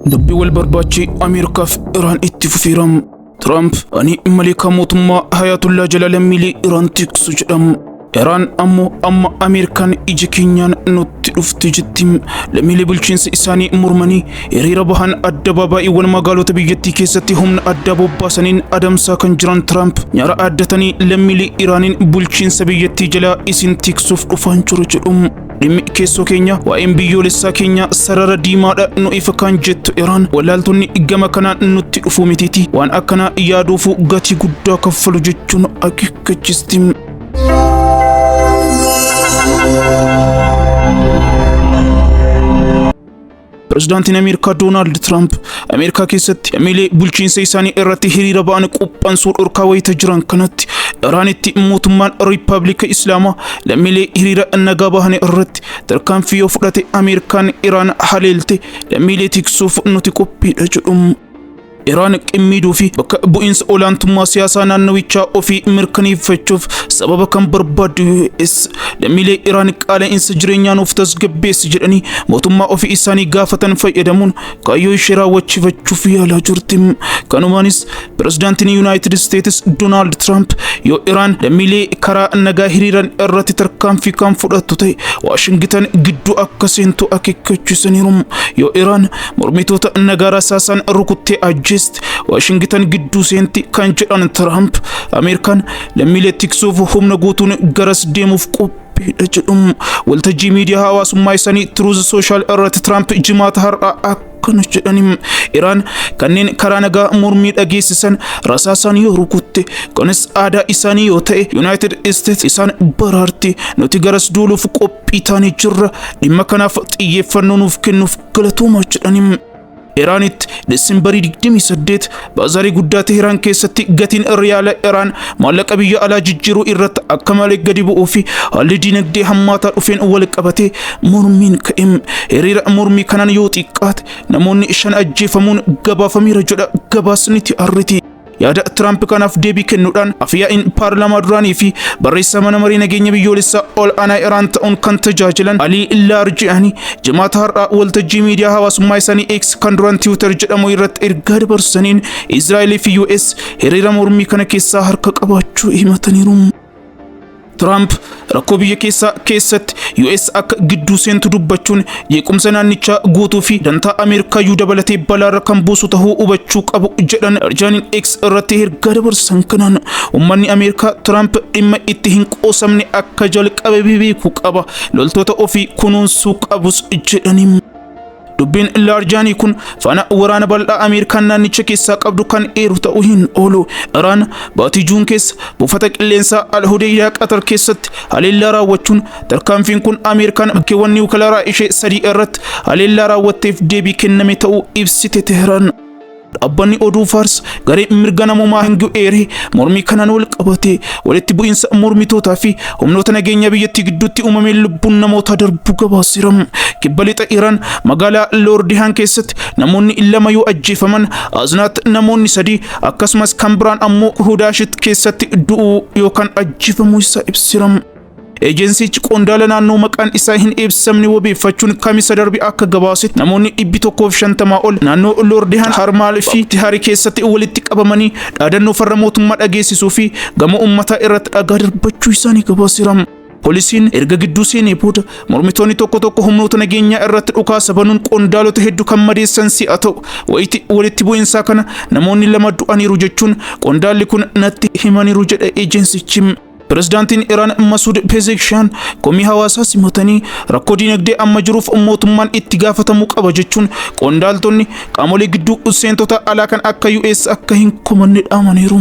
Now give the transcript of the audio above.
Dubbi wal barbaachi Ameerikaaf Iraan itti fufeera. Tiraamp ani maleekaa mootummaa Hayaatullaa jala lammiilee Iraan tiksu jedham. Iraan ammoo amma Ameerikaan ija keenyaan nutti dhufte jetti. Lammiilee bulchiinsa isaanii mormanii hiriira bahan addabaabaay'iiwwan magaalota biyyattii keessatti humna addaa bobbaasaniin adamsaa kan jiran Tiraamp nyaara addatanii lammiilee Iraaniin bulchiinsa biyyattii jalaa isin tiksuuf dhufaan jiru jedhu. Dhimmi keessoo keenya waa'een biyyoolessaa keenya sarara diimaadha nu ifa kan jettu Iraan wallaaltonni gama kanaan nutti dhufuu mitiiti waan akkanaa yaaduufu gatii guddaa kaffalu jechuun akeekkachiisti. Pirezidaantiin Ameerikaa Doonaald Tiraamp Ameerikaa keessatti lammiilee bulchiinsa isaanii irratti hiriira ba'an quphansuu dhorkaa wayita jiran kanatti Iraanitti mootummaan Riippaabilika Islaamaa lammiilee hiriira nagaa bahan irratti tarkaanfii yoo fudhate Ameerikaan Iraan haleelte lammiilee tiksuuf nuti qophiidha jedhu. Iraan qimmiiduu fi bakka bu'iinsa olaantummaa siyaasaa naannawichaa ofii mirkaneeffachuuf sababa kan barbaaddu US lammiilee Iraan qaala'insa jireenyaa nuuf tasgabbeessi jedhanii mootummaa ofii isaanii gaafatan fayyadamuun kaayyoo ishee raawwachiifachuuf yaalaa jirti. Kanumaanis pirezidaantiin Yuunaayitid Isteetis Doonaald Tiraamp yoo Iraan lammiilee karaa nagaa hiriiran irratti tarkaanfii kan fudhattu ta'e Waashingitan gidduu akka seentu akeekkachiisaniiru. Yoo Iraan mormitoota nagaa rasaasaan rukuttee ajjeesti waashingitan gidduu seenti kan jedhan tiraamp ameerikaan lammiilee tiksuuf humna guutuun garas deemuuf qophiidha jedhu waltajjii miidiyaa hawaasummaa isaanii tiruuz sooshaal irratti tiraamp jimaata har'aa akkana jedhanii iraan kanneen karaa nagaa mormii dhageessisan rasaasaan yoo rukutte kunis aadaa isaanii yoo ta'e yuunaayitid isteets isaan baraarti nuti garas duuluuf qophii taanee jirra dhimma kanaaf xiyyeeffannoo nuuf kennuuf Galatooma jedhaniin Iraanitti Desembarii 28 baazaarii guddaa Teheraan keessatti gatiin riyaala Iraan maallaqa biyya alaa jijjiiruu irratti akka malee gadi bu'uu fi haalli dinagdee hammaataa dhufeen wal qabatee mormiin ka'e. Hiriira mormii kanaan yoo xiqqaate namoonni shan ajjeefamuun gabaafameera jedha gabaasni TRT. Yaada Tiraamp kanaaf deebii kennuudhaan afyaa'iin paarlaamaa duraanii fi barreessaa mana marii nageenya biyyoolessaa ol aanaa Iraan ta'uun kan tajaajilan Alii Laarjiyaanii jimaata har'aa waltajjii miidiyaa hawaasummaa isaanii X kan duraan Tiwiitar jedhamu irratti ergaa dabarsaniin Israa'el fi US hiriira mormii kana keessaa harka qabaachuu himataniiru. Tiraamp rakkoo biyya keessaa keessatti US akka gidduu seentu dubbachuun jeequmsa naannichaa guutuu fi dantaa Ameerikaayyuu dabalatee balaarra kan buusu tahuu hubachuu qabu jedhan Erjaaniin X irratti ergaa dabarsan kanaan uummanni Ameerikaa Tiraamp dhimma itti hin qoosamne akka jalqabe beekuu qaba loltoota ofii kunuunsuu qabus jedhaniin. Dubbiin Laarjaanii kun faana waraana bal'aa Ameerikaan naannicha keessaa qabdu kan eeru ta'uu hin oolu. Iraan baatii Juun keessa buufata qilleensaa Al-Hudaydaa Qatar keessatti haleellaa raawwachuun tarkaanfiin kun Ameerikaan bakkeewwan niwukilaraa ishee sadii irratti haleellaa raawwatteef deebii kenname ta'uu ibsite Tehraan. Dhaabbanni oduu Faars garee mirga namoomaa Hingiyu eeree mormii kanaan wal qabatee walitti bu'iinsa mormitootaa fi humnoota nageenyaa biyyattii gidduutti uumameen lubbuun namootaa darbuu gabaaseera. Kibba lixa Iraan magaalaa Loordihaan keessatti namoonni lama yoo ajjeefaman Aznaat namoonni sadii akkasumas kan biraan ammoo Hudaashit keessatti du'uu yookaan ajjeefamuu isaa ibseera. Ejensichi qondaala naannoo maqaan isaa hin ibsamne wabeeffachuun kamisa darbe akka gabaasetti namoonni dhibbi tokkoof shantamaa ol naannoo Loordihaan Harmaal fi Tihari keessatti walitti qabamanii dhaadannoo farra mootummaa dhageessisuu fi gamoo ummataa irratti dhagaa darbachuu isaanii gabaaseera. Poolisiin erga gidduu seenee booda mormitoonni tokko tokko humnoota nageenyaa irratti dhukaasa banuun qondaalota hedduu kan madeessan si'a ta'u wayiti walitti bu'insaa kana namoonni lama du'aniiru jechuun qondaalli kun natti himaniiru jedha ejensichi. Pirezidaantiin Iraan Masuud Pezekshaan komii hawaasaa simatanii rakkoo dinagdee amma jiruuf mootummaan itti gaafatamuu qaba jechuun qondaaltonni qaamolee gidduu seentota alaa kan akka US akka hin kumanne dhaamaniiru.